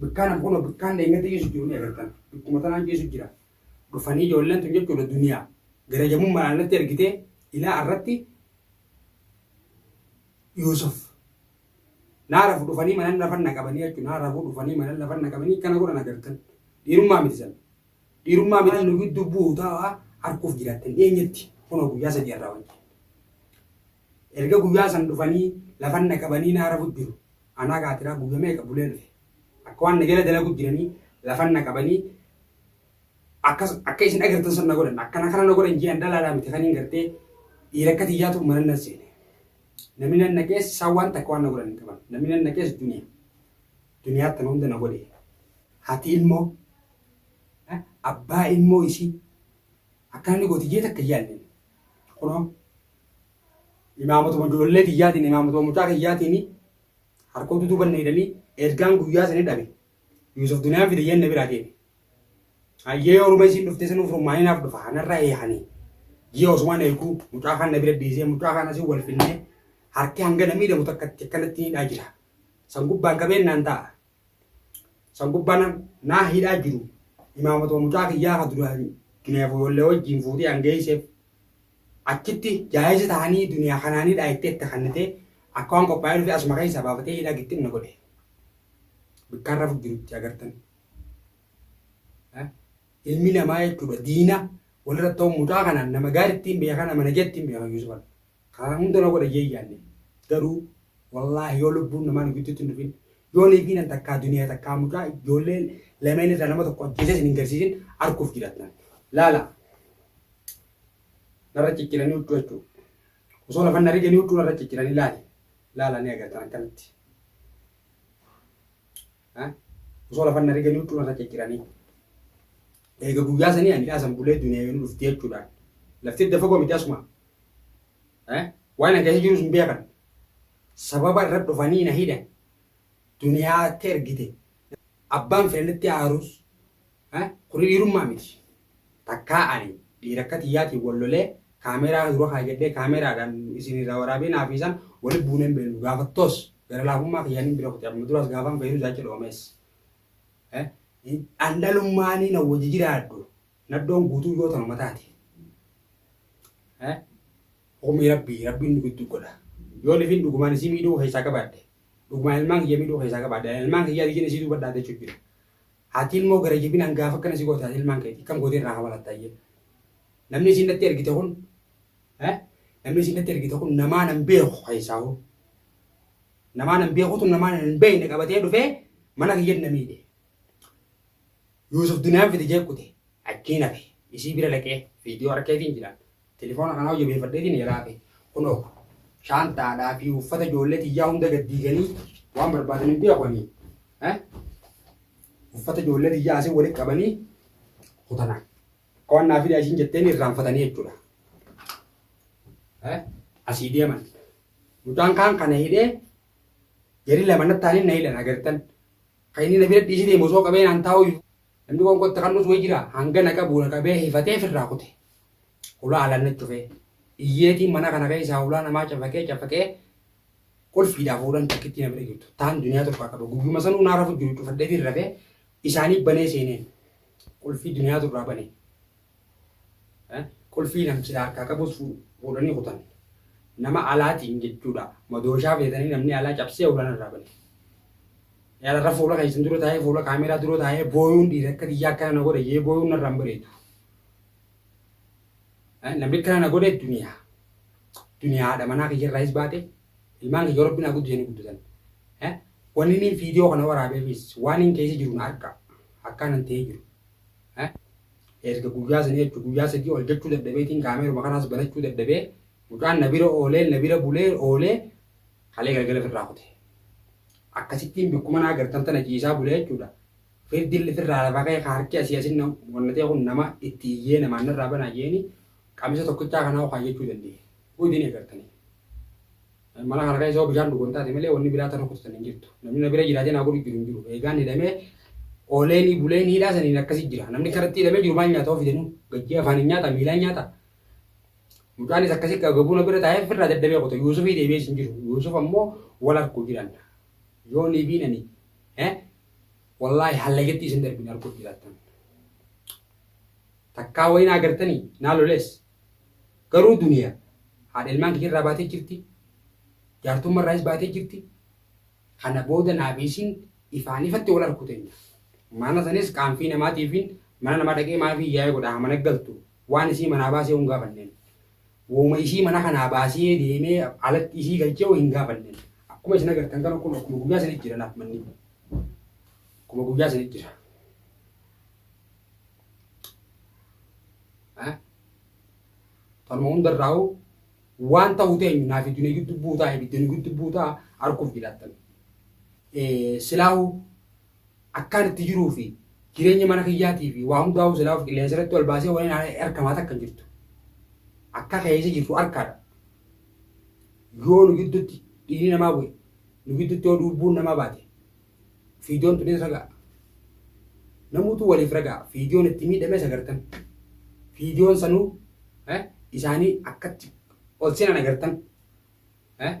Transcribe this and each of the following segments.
Bikkaan amma kunoo bikkaan deengadda jeesu jiru ni agartan. Bikkuma tanaan jeesu jira. Dhufanii ijoolleen tun jechuudha duniyaa. Garajamummaan alatti argitee ilaa irratti Yuusuf naarafu dhufanii manan lafan na qabanii jechuun naarafu dhufanii manan lafan na qabanii kana godhan agartan. Dhiirummaa miti san. Dhiirummaa miti nu gidduu bu'u ta'a harkuuf jiraattan dhiyeenyatti kunoo guyyaa sadii irraa wajjin. Erga guyyaa san dhufanii lafan na qabanii naa rafu jiru anaa kaatiraa guyya meeqa bulee dhufe akka waan na jala dalagu jiranii lafan na qabanii akkas akka isin agartan san na godhan akkana kana na godhan jee an dhalaadhaa miti kaniin gartee dhiira akka tiyyaatu mana nan seene namni nan naqees isaan waan takka waan na godhan hin qaban namni nan naqees duniya duniyaa tana hunda na godhe hati ilmoo abbaa ilmoo isii akka namni gooti jee takka hin yaadne Kunoo imaamatuma ijoollee tiyyaatiin imaamatuma mucaa kiyyaatiin harkootu duuba na hidhanii ergaan guyyaa sanii dhabe. Yuusuf duniyaan fide jenne biraa deeme. Hayyee oruma isiin dhuftee sanuuf rummaanii naaf dhufa hanarra eehanii. Ji'a osumaan eeguu mucaa kaan na bira dhiisee mucaa kaan asii wal finnee harki hanga na miidhamu takkatti akkanatti hidhaa jira. San gubbaan qabeen naan ta'a. San gubbaa na, na hidhaa jiru imaamatuma mucaa kiyyaa ka duraan duniyaa foyollee wajjiin fuutee an geeyseef achitti jaayisa tahanii duniyaa kanaan hidhaa itti itti kannitee akka waan qophaa'ee dhufee asuma keeysaa baafatee hidhaa gixxim na godhe. Bikkaan rafu jirutti agartan. Eh? Ilmi namaa jechuudha diina walirratti ta'u mucaa kanaan nama gaarittiin beekaa nama nageettiin beekaa Yuusufan. Kana hunda na godha jee hin yaanne. Garuu wallaahi yoo lubbuun namaa nu gidduutti hin dhufin yoo niitiinan takkaa duniyaa takkaa mucaa ijoollee lameen irraa nama tokko ajjeesee isin hin garsiisin arguuf jiraattan. Laala. Narra cicciranii huccuu jechuu. Osoo lafan na riganii huccuu narra cicciranii laali. Laala ni agartan akkamitti. Ha? Osoo lafan na riganii huccuu narra cicciranii. Eega guyyaa sanii ani dhaasan bulee duniyaa yoo nu dhufti jechuudhaan. Lafti edda fagoo miti asuma. Waan na gahee jirus hin beekan. Sababa irra dhufanii na hidhan. Duniyaatti ergite. Abbaan fedhe natti aarus. Kuni dhiirummaa miti. Takkaa ani dhiira akka tiyyaatiin wal lolee kaameeraa dura kaayyadhee kaameeraadhaan isin irraa waraabee naa fi isaan wali buunee hin beeknu. Gaafattoos gara laafummaa kiyyaan hin bira kute. Amma duraas gaafaan fayyadu jaacha dhoomees. An dhalummaanii na wajji jiraadhu. Nadhoon guutuu yoo tanuma taate. Eh? Humni rabbii rabbiin nu gidduu godha. Yoo lifiin dhugumaan isii miidhuu keessaa qabaadhe. Dhugumaan ilmaan kiyya miidhuu keessaa qabaadhe. Ilmaan kiyyaa diyyeen isii duuba dhaadachuu jira. Haati ilmoo gara jibinaan gaafa akkana si goote haati ilmaan keeti kam gootee irraa hamalatta ayyee. Namni isiin natti ergite kun eh? namni isiin natti ergite kun namaa nan beeku keessaa hoo. Namaa nan beekutu namaa nan beekne qabatee dhufee mana kiyyan na miidhe. Yuusuf duniyaan fide jee kute achiin hafe isii bira dhaqee viidiyoo harkeetiin jiran tilifoona kanaa hojjabeeffadheetiin jalaa hafe kunoo shaantaadhaa fi uffata ijoollee tiyyaa hunda gad diiganii waan barbaadan hin beekanii uffata ijoollee tiyyaa asii walitti qabanii kutana qo'annaa fi asiin jetteen irraanfatanii jechuudha. Asii deeman mucaan kaan kana hidhee gadi lama nattaaniin na hidhan agartan. Ka inni na bira dhiisi deemu osoo qabee naan taa'uyyuu namni qoonqoo itti qal'us wayi jira hanga na qabu na qabee hifatee firraa kute. Hulaa alaan na cufee. Iyyeetiin mana kana keessaa hulaa namaa cafaqee cafaqee qulfiidhaa fuudhan takkittii na bira jirtu. Taan duniyaa tokko akka qabu guyyuma sanuu naa rafu jiru cufadhee fi rafee isaanii banee seeneen qulfii duniyaa turraa banee. Qulfii namchila harkaa qabus fuudhanii kutan. Nama alaatiin jechuudha. Madooshaa feetanii namni alaa cabsee ulaan irraa bane. Yaadara fuula keessan dura taa'ee fuula kaameeraa dura taa'ee booyuun dhiira akka biyyaa akkana na godhe jee booyuun narraa hin bareedu. Namni akkana na godhe duniyaa. Duniyaa haadha manaa kiyya irraayis baate ilmaan kiyya rabbi naa guddisanii guddatan. Wanni inni viidiyoo kana waraabeefis waan inni keessa jiru na harka akkaanan ta'ee jiru. Erga guyyaa sanii jechuun guyyaa sadii ol jechuu dadhabeetiin kaameeruma kanaas banachuu dadhabee mucaan na bira oolee na bira bulee oolee kalee galgala firraa kute. Akkasittiin bikkuma naa gartan tana ciisaa bule jechuudha. Firdilli firraa lafa ka'ee ka harki asii asin wannatee kun nama itti iyyee namaan narraa banaa jeeni qamisa tokkichaa kanaa ukaa jechuu danda'e. Udin egartanii. Mala kana keessa yoo bishaan dhugan taate malee wanni biraa ta rukututan hin jirtu. Namni na bira jiraatee naa godhu jiru hin jiru. Eegaan hidhamee ooleenii buleen hiidhaa saniin akkasi jira. Namni karatti hidhamee jiru maal nyaata ofidanuu? Gajjee afaaniin nyaataa miilaan nyaataa? Mucaanis akkasi gagabuu na bira taa'ee firraa dadhabee qote. Yuusufii deebi'ees hin jiru. Yuusuf ammoo wal arguu jiran. Yoo ni biinani wallaahi hallagetti isin darbin arguu jiraattan. Takkaa wayii naa gartanii naa lolees Garuu duniyaa haadha ilmaan kiyya irraa baatee jirti, jaartumma irraayis baatee jirti, kana booda naa fi isiin ifaan ifatti wal arku teenya. Mana sanis qaanfii namaatiifiin mana namaa dhaqee maafii iyyaa'ee godha haa mana galtu, waan isii manaa baasee hoo hin gaafanneen. Wooma isii mana kanaa baasee deemee alatti isii galchee hoo hin gaafanneen. Akkuma isin agartan kana kun akkuma guyyaa sanitti jira naaf manni kun. Akkuma guyyaa sanitti jira. Tanuma hundarraa'u waan ta'u teenyu naaf iddoo ni giddu buutaa ibidda ni giddu buutaa arguuf jiraatan. Silaahu akkaan itti jiruu fi jireenya mana kiyyaatii fi waa hundaa'u silaahu qilleensa irratti ol baasee waliin harkamaa takka hin jirtu. Akka keessa jirtu harkaadha. Yoo nu gidduutti dhiigni namaa bu'e nu gidduutti yoo lubbuun namaa baate Viidiyoon tunis ragaa. Namuutu waliif ragaa. Viidiyoon itti miidhames agartan. Viidiyoon sanuu eh, isaanii akkatti ol seenan agartan. Eh,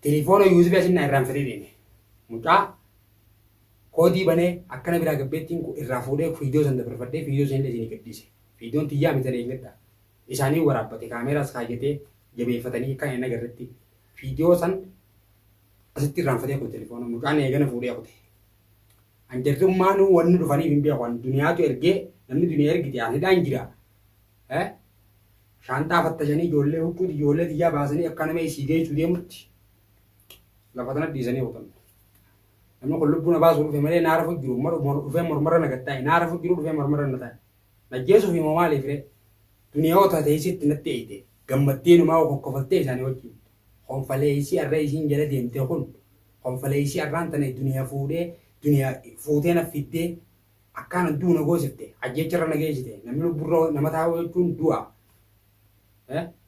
Tilifoona yuuzibii asin naa irraan fedhee deeme. Mucaa koodii banee akkana biraa gabbeettiin kun irraa fuudhee viidiyoo san dabarfadhee viidiyoo sanillee isinii gadhiise. Viidiyoon tiyyaa mitan eeggadha. Isaanii waraabbate kaameeraas kaayyatee jabeeffatanii akka hin agarretti. Viidiyoo san asitti irraanfatee kun telefoona mucaan eegana fuudhee kute. An jarri ummaanuu wanni dhufaniif hin beeku an duniyaatu ergee namni duniyaa ergite an hidhaan jira. Eh? Shaanxaa fattashanii ijoollee huccuuti ijoollee tiyyaa baasanii akka nama isii geessuu deemutti lafa tana dhiisanii kutan. Namni kun lubbuu na baasuu dhufe malee naara fudhu jiru mor- mor- dhufee mormarra na gattaa'e naara fudhu jiru dhufee mormarra na taa'e. Na jeesuuf immoo maaliif ree? Duniyaa otaa teessitti natti eeyite gammaddee numaa kokkofaltee isaanii wajjin. Konfaleeysii arra isiin jala deemte kun konfaleeysii arraan tana duniya fuudhee duniya fuutee naf fiddee akkaanan du'u na goosifte ajjeecha irra na geeysite namni lubbu irra nama taa'u jechuun du'a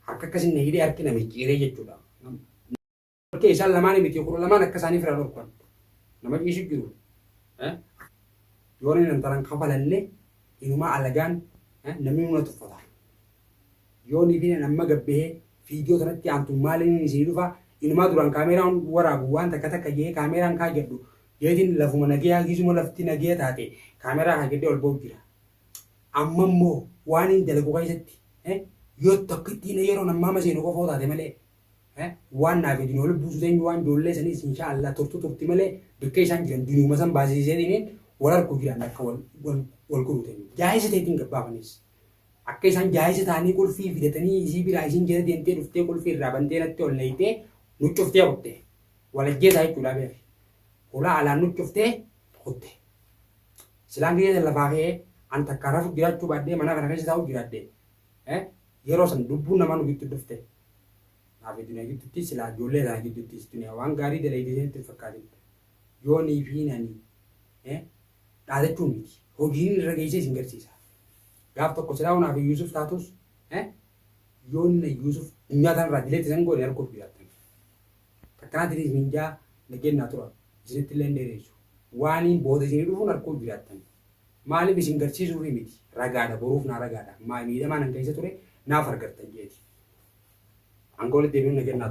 harka akkasin na hidhee harki na micciiree jechuudha dhorkee isaan lamaani miti kudha lamaan akka isaanii fira dhorkan nama ciisu jiru yoona nan taran kafalanne inumaa alagaan namni nuna tuffata Yoo niitiin an amma gad bahee viidiyoo tanatti aantu maaliniin isinii dhufa inumaa duraan kaameeraan waraabu waan takka takka ja'ee kaameeraan kaajadhu jeetiin lafuma nageyaa giizuma lafti nageya taate kaameeraa kaajadhee ol bahu jira amma immoo waaniin dalagu keessatti yoo tokkittiin yeroon ammaa maseenu qofa yoo taate malee waan naaf hedin wal buusu teenyu waan joollee saniis inshaa Allah turtu turti malee bikkee isaan jiran duniuma san baasisiisee dhiniin wal harku jiran akka wal wal godhu teenyu jaahisa teetiin gabbaafanis Akka isaan jaayisa taanii qulfii fidatanii isii biraa isiin jala deemtee dhuftee qulfii irraa bantee natti ol nayxee nu cuftee kutte. Wal ajjeesaa jechuudhaa beeki. Hulaa alaan nu cuftee kutte. Silaan gizee san lafaa ka'ee an takkaa rafu jiraachuu baadhee manaa kana keessa taa'u jiraadhe. Eh? Yeroo san lubbuun namaa nu giddu dhufte. Naafi duniyaa giddutti silaa ijoollee sana gidduttis duniyaa waan gaarii dalayde isinitti hin fakkaatin. Yoonii fi nani. Eh? dhaadachuun miti. Hojiin irra geessee isin garsiisa. Gaaf tokko silaa onaa fi Yuusuf taatus yoon na Yuusuf dunyaa tanarraa dileetti isan goone arguuf jiraattan. Takkanaatiin isin jaa na kennaa tura. Isinitti illee hin dheereessu. Waaniin booda isinii dhufuun arguuf jiraattan. Maaliif isin garsiisuufii miti. Ragaadha boruuf naa ragaadha. Miidhamaa nan keessa ture naaf argattan jeeti. Angoolatti deebi'uun na kennaa tura.